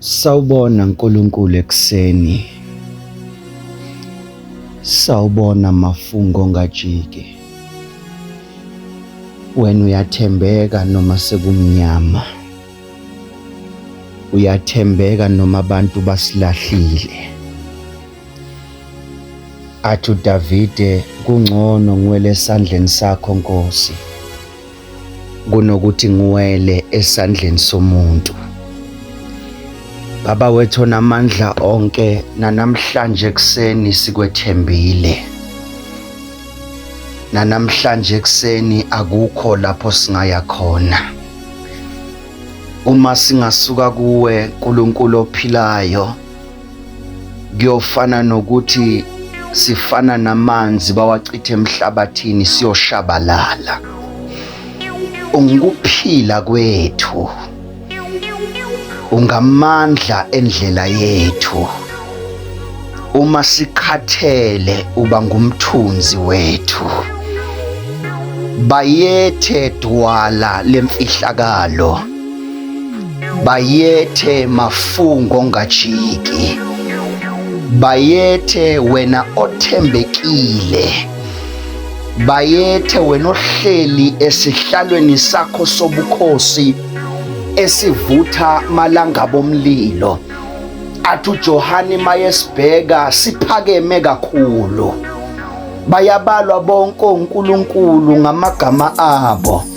Sawubona Nkulunkulu ekuseni. Sawubona mafungo ngajiki. Wena uyathembeka noma sekumnyama. Uyathembeka noma abantu basilahlile. Athu Davide kungcono ngwele esandleni sakho Nkosi. kunokuthi ngiwele esandleni somuntu Baba wethu namandla onke nanamhlanje ekseni sikwethembile nanamhlanje ekseni akukho lapho singaya khona uma singasuka kuwe nkulunkulu ophilayo kuyofana nokuthi sifana namanzi bawachithe emhlabathini siyoshabalala ungukuphila kwethu ungamandla endlela yethu uma sikhathele uba ngumthunzi wethu bayethe dwala lemfihlakalo bayethe mafungo ngajiki bayethe wena othembekile bayethe wena ohleli esihlalweni sakho sobukhosi esivutha malanga bomlilo athi uJohane mayesibheka siphakeme kakhulu bayabalwa bonke oNkulunkulu ngamagama abo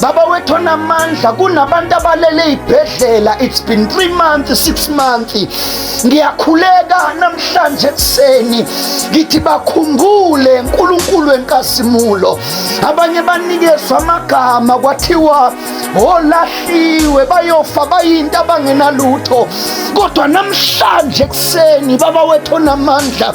Baba wethu onamandla kunabantu abalele ey'bhedlela it's been three months six months ngiyakhuleka namhlanje ekuseni ngithi bakhumbule nkulunkulu wenkazimulo abanye banikezwa amagama kwathiwa olahliwe bayofa bayinto abangenalutho kodwa namhlanje ekuseni baba wethu onamandla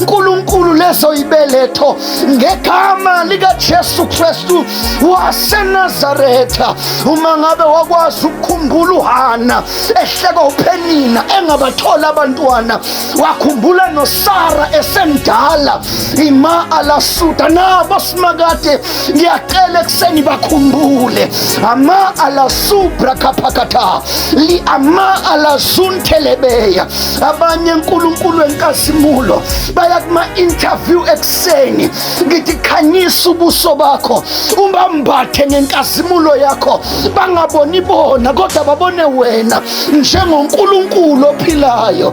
Nkulunkulu leso ibeletho ngegama likaJesu Kristu waseNazaretha. Uma ngabe wakwazi ukukhumbula uHana ehleka uPhenina engabathola abantwana, wakhumbula noSara esemdala ima alasuda nabo simakade ngiyacela ekuseni bakhumbule ama alasubra kaphakatha li ama alazunthelebeya abanye nkulunkulu enkazimulo baya kuma-interview ekuseni ngithi khanyisa ubuso bakho ubambathe ngenkazimulo yakho bangaboni bona kodwa babone wena njengonkulunkulu ophilayo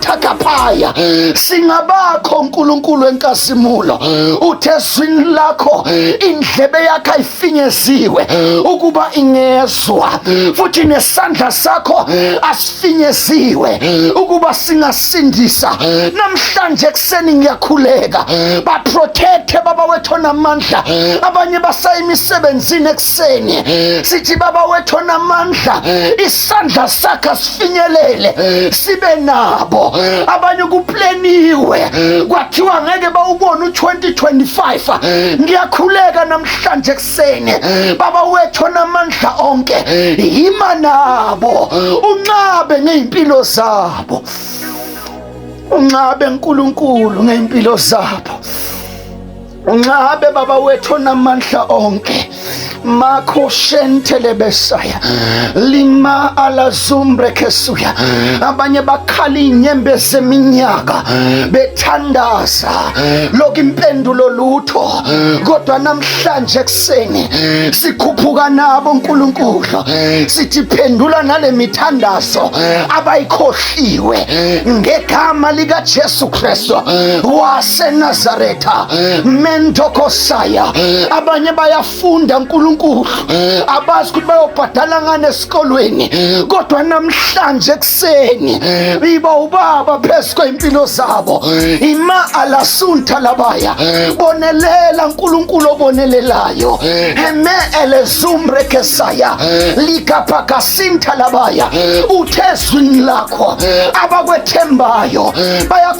thakaphaya singabakho nkulunkulu wenkazimulo uthe ezwini lakho indlebe yakho ayifinyeziwe ukuba ingezwa futhi nesandla sakho asifinyeziwe ukuba singasindisa namhlanje ekuseni ngiyakhuleka baprotecthe baba wethu onamandla abanye basayimisebenzini ekuseni sithi baba wethu onamandla isandla sakhe sifinyelele sibe nabo abanye kupleniwe kwathiwa ngeke bawubone u-2025 ngiyakhuleka namhlanje ekuseni baba wethu onamandla onke yima nabo unqabe ngey'mpilo zabo unqabe nkulunkulu ngey'mpilo zabo Unqabe baba wethu onamandla onke makho shentelebesaya lima alazumbre kesuya abanye bakhala inyembezi eminyaka bethandaza lokhu impendulo lutho kodwa namhlanje ekuseni sikhuphuka nabo uNkulunkulu sithi phendula nale mithandazo abayikhohliwe ngegama likaJesu Kristu waseNazaretha Tha mentokosaya abanye bayafunda uNkulunkulu abazi ukuthi bayobhadala ngani esikolweni kodwa namhlanje ekuseni iba ubaba phezu kwey'mpilo zabo ima alasunta labaya bonelela uNkulunkulu obonelelayo heme elezumbre kesaya likapakasinta labaya uthe ezwini lakho abakwethembayo baya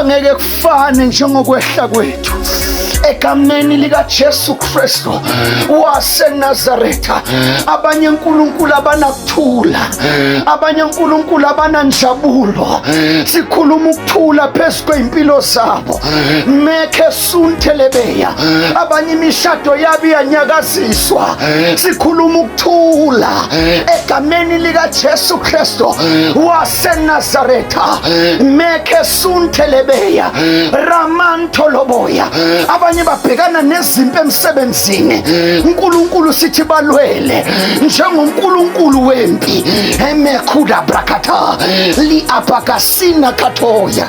angeke kufane njengokwehla kwethu egameni likaJesu Kristu waseNazaretha. Abanye uNkulunkulu abanakuthula, abanye uNkulunkulu abananjabulo. Sikhuluma ukuthula phezu kwey'mpilo zabo. Mekhe Soon Telebeya abanye imishado yabo iyanyakaziswa sikhuluma ukuthula egameni likaJesu Kristo waseNazaretha mekhe Soon Telebeya Ramanto Loboya abanye babhekana nezimpi emsebenzini uNkulunkulu sithi balwele njengoNkulunkulu wempi emekhuda brakata li apakasina katoya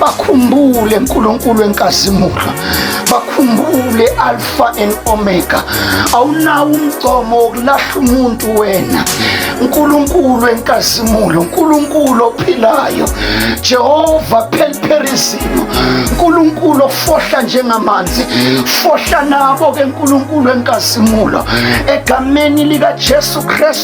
bakhumbule nkulunkulu enkazimulo bakhumbule alpha and omega awunawo umgcomo wokulahla umuntu wena nkulunkulu enkazimulo nkulunkulu ophilayo jehova phelipherizimo nkulunkulu ofohla njengamanzi fohla nabo ke nkulunkulu enkazimulo egameni likajesu kristu